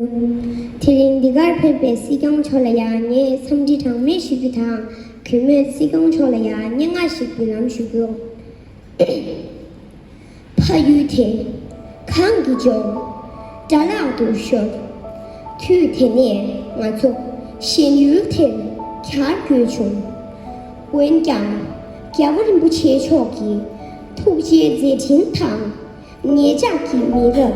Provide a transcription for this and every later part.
དེ་རིང་འདི་གར་ཕེབས་པའི་སྲིད་སྐྱོང་མཆོག་ལ་ཡང་ངས་འཚམས་འདྲི་གྲངས་མེད་ཞུ་རྒྱུ་དང་གུས་མོས་སྲིད་སྐྱོང་མཆོག་ལ་ཡང་སྙན་ངག་ཞིག་འབུལ་ལམ་ཞུ་རྒྱུ། ཕ་ཡུལ་དེ་གང་གི་ལྗོངས་དགྲ་ལག་ཏུ་ཤོར་དུས་དེ་ནས་ང་ཚོ་གཞན་ཡུལ་དེར་གྱར་དགོས་བྱུང། འོན་ཀྱང་རྒྱལ་བ་རིན་པོ་ཆེ་མཆོག་གི་ཐུགས་རྗེའི་མཛད་འཕྲིན་དང། ངེད་ཅག་གི་མི་རབས་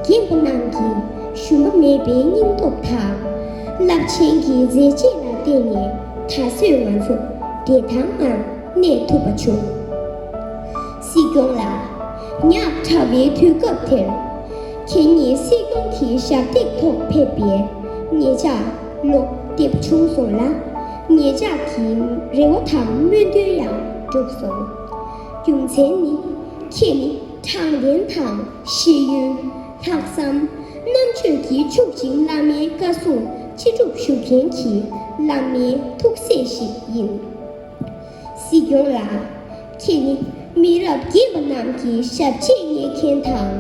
རྒན་པོ་རྣམས་ཀྱིས་ཞུམ་པ་མེད་པའི་སྙིང་སྟོབས་དང། རླབས་ཆེན་གྱི་མཛད་རྗེས་ལ་བརྟེན་ནས་ད་གཟོད་ང་ཚོ་བདེ་ཐང་ངང་གནས་ཐུབ་པ་བྱུང། སྲིད་སྐྱོང་ལགས། ཉག་ཕྲ་བའི་དུས་སྐབས་དེར། ཁྱེད་ཉིད་སྲིད་སྐྱོང་གི་ཞབས་སྟེགས་ཐོག་ཕེབས་པས་ངེད་ཅག་བློ་བདེ་བྱུང་སོང་ལ། ངེད་ཅག་གི་རེ་བ་དང་སྨོན་འདུན་ཡང་འགྲུབ་སོང། རྒྱུ་མཚན་ནི། ཁྱེད་ནི་དྲང་བདེན་དང་ཤེས་ཡོན། ལྷག་བསམ། རྣམ་དཔྱོད་ཀྱིས་ཕྱུག་ཅིང་བླ་མའི་བཀའ་སྲུང་ཅི་སྒྲུབ་ཞུ་མཁན་གྱི་བླ་མའི་ཐུགས་སྲས་ཤིག་ཡིན། སྲིད་སྐྱོང་ལགས། ཁྱེད་ནི་མི་རབས་བརྒྱད་པ་རྣམས་ཀྱི་ཞབས་རྗེས་བསྙེག་མཁན་དང།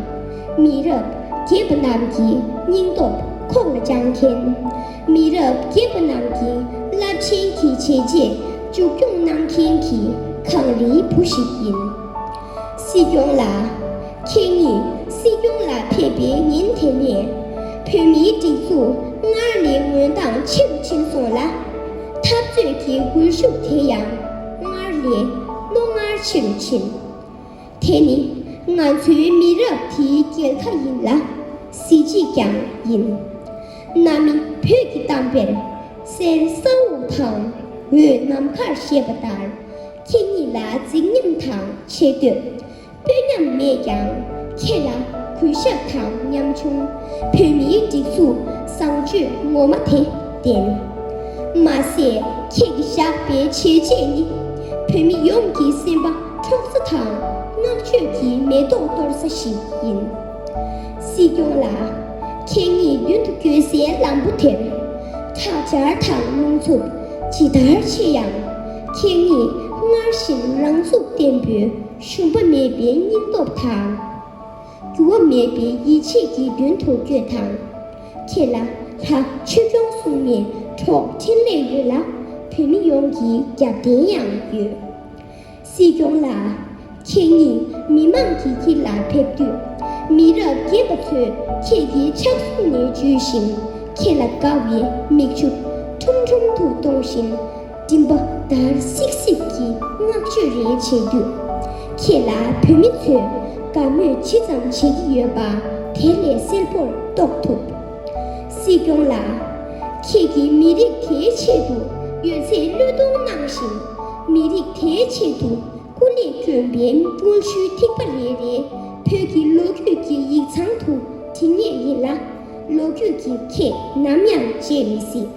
མི་རབས་བརྒྱད་པ་རྣམས་ཀྱི་སྙིང་སྟོབས་ཁོག་ལ་བཅངས་མཁན། མི་རབས་སྐྱེས་པ་རྣམས་ཀྱི་རླབས་ཆེན་གྱི་བྱས་རྗེས་མཇུག་སྐྱོང་གནང་མཁན་གྱི་གངས་རིའི་བུ་ཞིག་ཡིན། སྲིད་སྐྱོང་ལགས། ཁྱེད་ཉིད་སྲིད་སྐྱོང་ལ་ཕེབས་པའི་ཉིན་དེ་ནས་བོད་མིའི་སྒྲིག་འཛུགས་སྔར་ལས་ངོས་འདང་ཆེ་རུ་ཕྱིན་སོང་ལ། འཐབ་རྩོད་ཀྱི་སྒུལ་ཤུགས་དེ་ཡང་སྔར་ལས་རྣོ་ངར་ཆེ་རུ་ཕྱིན། དེ་ནི་ང་ཚོའི་མི་རབས་དེའི་སྐྱེལ་ཁ་ཡིན་ལ་གཟི་བརྗིད་ཀྱང་ཡིན། གནའ་མི་བོད་ཀྱི་གཏམ་དཔེར་གསེར་ས་འོག་དང་འོད་ནམ་མཁར་ཞེས་པ་ལྟར་ཁྱེད་ཉིད་ལ་རྫིག་ཉམས་དང་ཆེ་བསྟོད་དཔོན་ཉམས་མེད་ཀྱང་ཁྱེད་ལ་གུས་ཞབས་དང་ཉམ་ཆུང་བོད་མིའི་སྒྲིག་འཛུགས་བཟང་སྤྱོད་ངོ་མ་དེ་ལྡན། མ་ཟད་ཁྱེད་ཀྱི་བཞག་པའི་བྱས་རྗེས་ནི་བོད་མི་ཡོངས་ཀྱི་སེམས་པ་འཁྱོག་ས་དང་བསྔགས་བརྗོད་ཀྱི་མེ་ཏོག་གཏོར་ས་ཞིག་ཡིན། སྲིད་སྐྱོང་ལགས། ཁྱེད་ཉིད་རྒྱུན་དུ་བསྐྱོད་སའི་ལམ་བུ་དེར། ཁྲག་འབྱར་དང་རླུང་འཚུབ་ཇི་ལྟར་ཆེ་ཡང། ཁྱེད་ཉིད་སྔར་བཞིན་རང་ཚུགས་བརྟན་པོའི་ཞུམ་པ་མེད་པའི་སྙིང་སྟོབས་དང། འགྱུར་བ་མེད་པའི་ཡིད་ཆེས་ཀྱིས་མདུན་དུ་བསྐྱོད་དང། ཁྱེད་ལ་ལྷ་ཆོས་སྐྱོང་གསུམ་ནས་གྲོགས་འཕྲིན་ལས་ཡོད་ལ། བོད་མི་ཡོངས་ཀྱི་རྒྱབ་རྟེན་ཡང་ཡོད། སྲིད་སྐྱོང་ལགས། ཁྱེད་ཉིད་མི་མང་གིས་ཁྱེད་ལ་ཕེབས་དུས། མི་རབས་རྒན་པ་ཚོས་ཁྱེད་ཀྱི་ཕྱག་ཟུང་ནས་འཇུས་ཤིང་ཁྱེད་ལ་དགའ་བའི་མིག་ཆུ་ཁྲུམ་ཁྲུམ་དུ་གཏོང་བཞིན། མགྲིན་པ་འདར་སིག་སིག་གིས་བསྔགས་བརྗོད་རེ་བྱེད་དུས། ཁྱེད་ལ་བོད་མི་ཚོས་དགའ་མོས་ཇི་ཙམ་བྱེད་ཀྱི་ཡོད་པ་དེ་ལས་གསལ་པོར་རྟོགས་ཐུབ། སྲིད་སྐྱོང་ལགས། ཁྱེད་ཀྱིས་མི་རིགས་དེའི་ཆེད་དུ་ཡོད་ཚད་བློས་གཏོང་གནང་བཞིན། མི་རིགས་དེའི་ཆེད་དུ་སྐུ་ལས་བསྐྱོན་པའི་དངོས་ཤུལ་ཐིགས་པ་རེ་རེ་བོད་ཀྱི་ལོ་རྒྱུས་ཀྱི་ཡིག་ཚང་དུ་བྲིས་ངེས་ཡིན་ལ། ལོ་རྒྱུས་ཀྱི་ཁྱེད་ནམ་ཡང་བརྗེད་མི་སྲིད།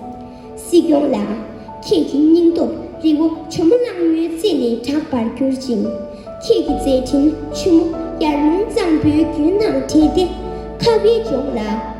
སྲིད་སྐྱོང་ལགས། ཁྱེད་ཀྱི་སྙིང་སྟོབས་རི་བོ་ཇོ་མོ་གླང་མོའི་རྩེ་ནས་གྲགས་པར་གྱུར་ཅིང། ཁྱེད་ཀྱི་མཛད་འཕྲིན་ཆུ་མོ་ཡར་ཀླུང་གཙང་པོའི་རྒྱུན་ནང་བྲལ་ཏེ་ཁ་བའི་ལྗོངས་ལ།